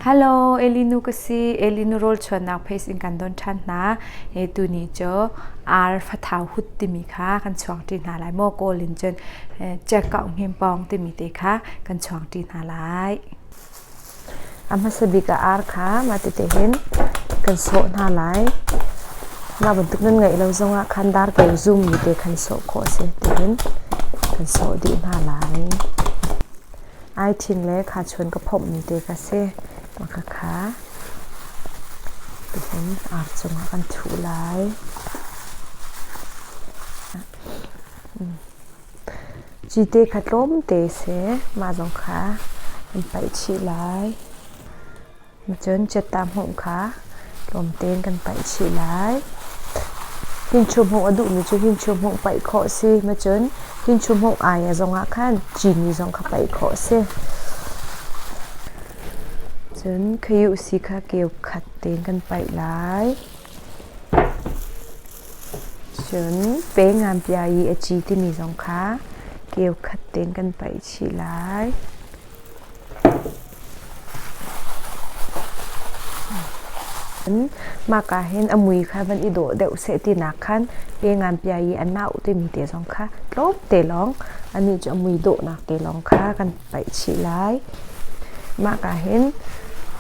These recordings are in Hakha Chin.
Hello, Elinu ka si. Elinu rawl chuannak pace in kan don ṭhan hna. E tu ni cu ar fathau hut timi kha kan chuang ṭi hna lai. Maw kawl in cun chekkau hngin pawng timi te kha kan chuang ṭi hna lai. A hmasa bik a ar kha mah tete hin kan sawh hna lai. Mah bantuk nan ngeih lo zongah khan dar ko zum mi te khan sawh khawh a si tihin kan sawh dih hna lai. Ai ṭhin le khachuan ka phomh mi te kha si. Maka kha tihin ar cungah kan thuh lai. Cite kha tlawmte seh, mah zong kha an paih chih lai. Cun cetta hmuh kha tlawmte in kan paih chih lai. Hinchu hmuh a duhmi cu hinchu hmuh paih khawh si. Cun hinchu hmuh ai a zongah khan cini zong kha paih khawh si. Cun khayu si kha keu khat tein kan paih lai. Cun pe ngan bia i a ci timi zong kha keukhat tein kan paih chih lai. Mahka hin a mui kha van i dawh deuh seh ti nak khan pe ngan bia i a nau timi te zong kha tlawmte lawng anih cu a mui dawhnak te lawng kha kan paih chih lai. Mah ah hin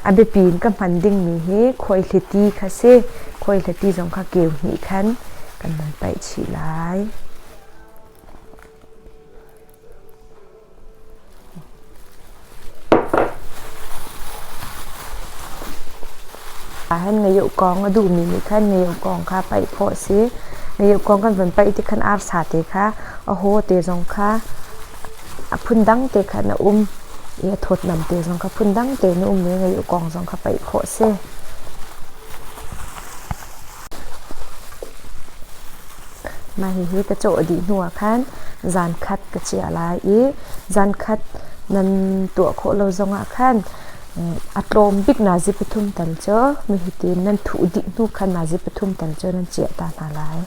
a biapi in ka hman dingmi hi khuaihliti kha si. Khuaihliti zong kha keu hnih khan kan hman paih chih lai. Hin ngayuh kong a duhmi nih khan ngayuh kong kha paih phawh si. Ngayuh kong kan von paih tikhan arsa te kha a haw te zong kha a phundang te kha na um i a thawtnam te zong kha phundang tein na um i ngaih u kong zong kha paih khawh a si. Mah hihi ka cawh dih hnu ah khan zankhat ka chiah lai i zankhat nan tuah khawh lo zong ah khan a tlawm bik nazi pathum tal cu hitin nan thuh dih hnu khan nazi pathum tal cu nan chiah ta hna lai.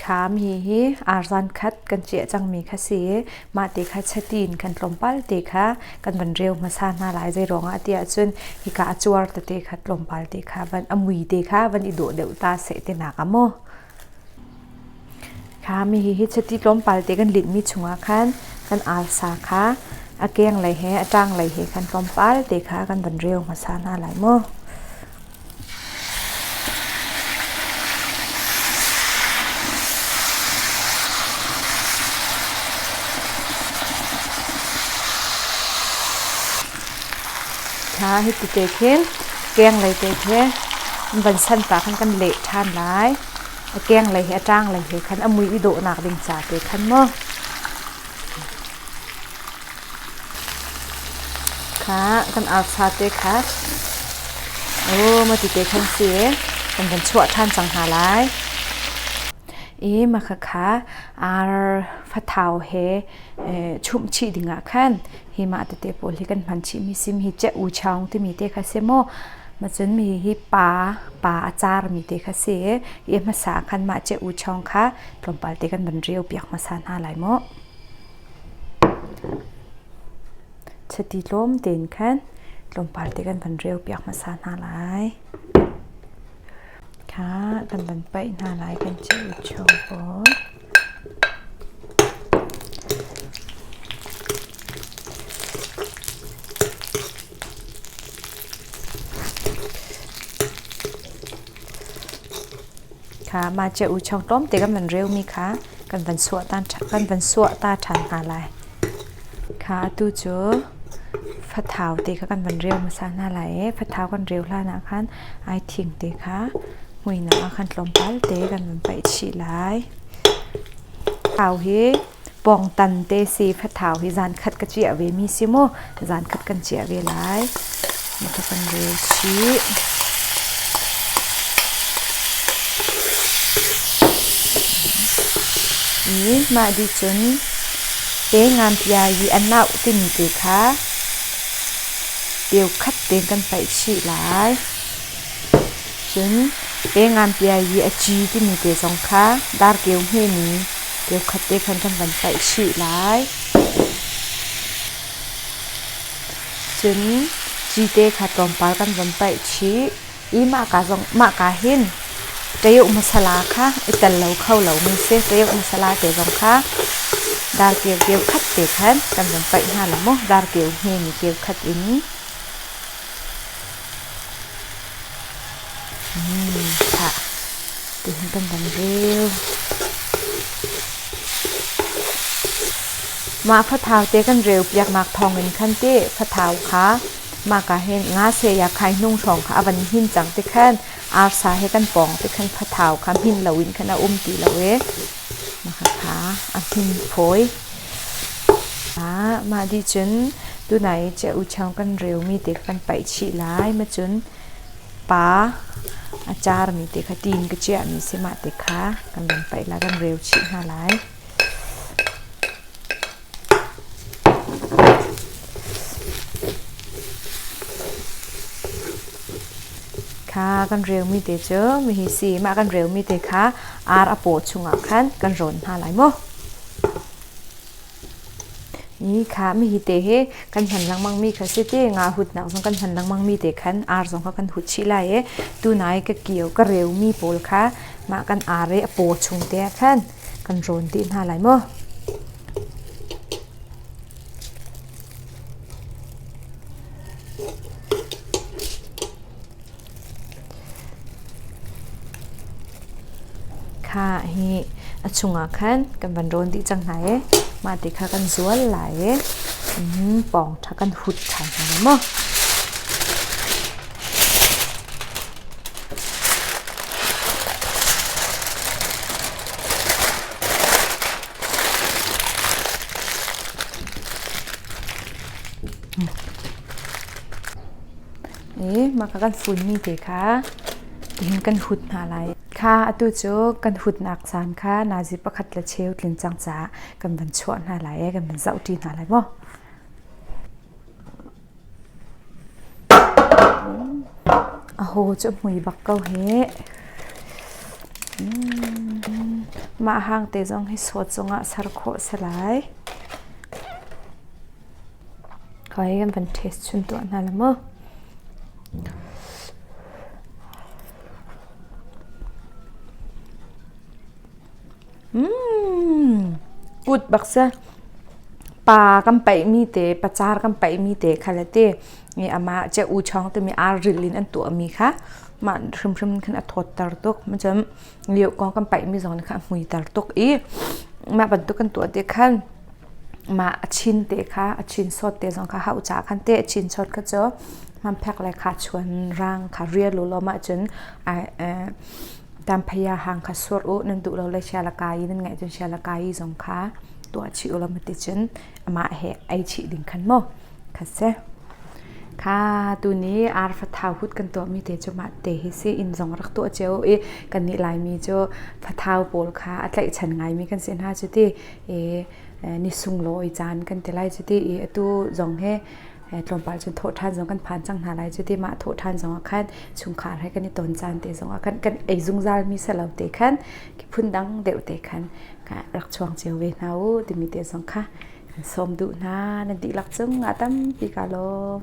Thlam hi hi arzan khat kan ciah cangmi kha si i mah ti kha chati in kan tlawmpal ti kha kan van reu hmasa hna lai. Zeiruangah ti ahcun hika a cuar tete kha tlawmpal ti kha van a mui te kha van i dawh deuh ta seh ti nak a maw. Khami hi chati tlawmpal te kan linhmi chungah khan kan arsa kha a kenglei he a tanglei he khan tlawmpal te kha kan van reu hmasa hna lai maw. hna hi ti te khin keng lei te khi van san ta khan kan leh than lai a keng lei he a tang lei he khan a mui i dawhnak ding ca te khan maw kha kan arfa te kha oh ma ti te khan si kan kan chuah than cang hna lai i makha kha ar fathau he chum chi dingah khan hi ma te te pawl hi kan hman chi mi sim hi che u chaung timi te kha se mo ma chun mi hi pa pa a car mi te kha si i hmasa khan ma che u chaung kha tlawmpal te kan ban riau piak hmasa hna lai mo Chiti tlawm tein khan tlawmpal te kan van reu piak hmasa hna lai. Kha kan van paih hna lai kan cheu chung pawl. kha mahcia uico tlawmte kan van reumi kha kan van suah ta ṭhan hna lai. Kha atu cu fathau te kha kan van reu hmasa hna lai i fathau kan reu hlan ah khan ai thing te kha hmuinak ah khan tlawmpal te kan van paih chih lai. Thau hi pawngtan te si fathau hi zankhat ka ciah ve mi si mu zankhat kan ciah ve lai ka kan rel chih i mah di cun te nganpia i anau timi te kha teu khat te kan paih chih lai cun te nganpia i a ci timi te zong kha dar keu hme mi Kekhat te khan kan van paih chih lai. Cun ci te kha tlawmpal kan van paih chih i mahka zong mahka hin ṭayuh masala kha i tel lo kho lomi si ṭayuh masala te zong kha dar keu keu khat te khan kan van paih hna lo maw dar keu hme mi keu khat in Thah tihin kan van reu. Mah fathau te kan reu piaknak thawngin khan ti fathau kha maka hin nga se ya khai hnung hrawng kha a van hin cang ti khan arsa he kan pawng ti khan fathau kha hmin loin khan a um ti lo ee. a hnungphawi. Mah dih cun tunai i Ceochang kan reumi te kha kan paih chih lai. Mah cun pa a carmi te kha tiin ka chiahmi si mah te kha kan van paih lai, kan reu chih hna lai. Kha kan relmi te cu hihi si. Mah kan relmi te kha ar a paw chungah khan kan rawn hna lai maw? Hi kha mihi te hi kan hman lengmang mi kha si ti nga hut nak zong kan hman lengmang mi te khan ar zong kha kan hut chih lai i tunai ka kio ka reu mi pawl kha mah kan ar i a paw chung te ah khan kan rawn dih hna lai maw? Kha hi a chungah khan kan van rawn dih cang hna e. Mah ti kha kan zual lai e. Um, pawng tha kan hut than hna lai maw? i maka kan funmi te kha tihin kan hut hna lai. Kha atu cu kan hutnak caan kha nazi pakhat le cheu tlin cang caah kan van chuah hna lai i kan van zohṭi hna lai maw? Aho cu a mui bak ko hih. Mah hang te zong hi sawt cungah ser khawh a si lai. Khawai kan van test chun tuah hna la maw. Put bak si. Pa kan paihmi te, pacar kan paihmi te kha le ti i amah cia u chawng timi aa rilh in an tuahmi kha mah hrimhrim khan a thawtter tuk. Cun lio kong kan paihmi zong nih khan a hmuiter tuk i mah bantuk kan tuah tik khan mah a chin te kha, a chinsawt te zong kha hau caah khan teh a chinsawt kha cu hmanphek le khachuan, rang kha rial ulaw mah cun ai Damphaya hang kha sur u nan duh lo le sialakai i nan ngaih cun sialakai i zong kha tuah chih u law mati cun amah he ei chih ding khan maw kha si kha tuni arfa thahut kan tuahmi te cu mah te hi si inn zong rak tuah cio i kan nih laimi cu fathau pawl kha a tlaihchan ngaimi kan si hna cu ti i ni sunglaw i caan kan ti lai cu ti i atu zong he tlawmpal cun thawhṭhan zong kan phan cang hna lai cu ti mah thawhṭhan zong ah khan chungkhar he kan i ton caan te zong ah kan kan ei zungzal mi se lo te khan ki phundang deuh te khan rak chuang cio ve hna u timi te zong kha kan sawm duh hna nan dihlak cung a tampi ka lawm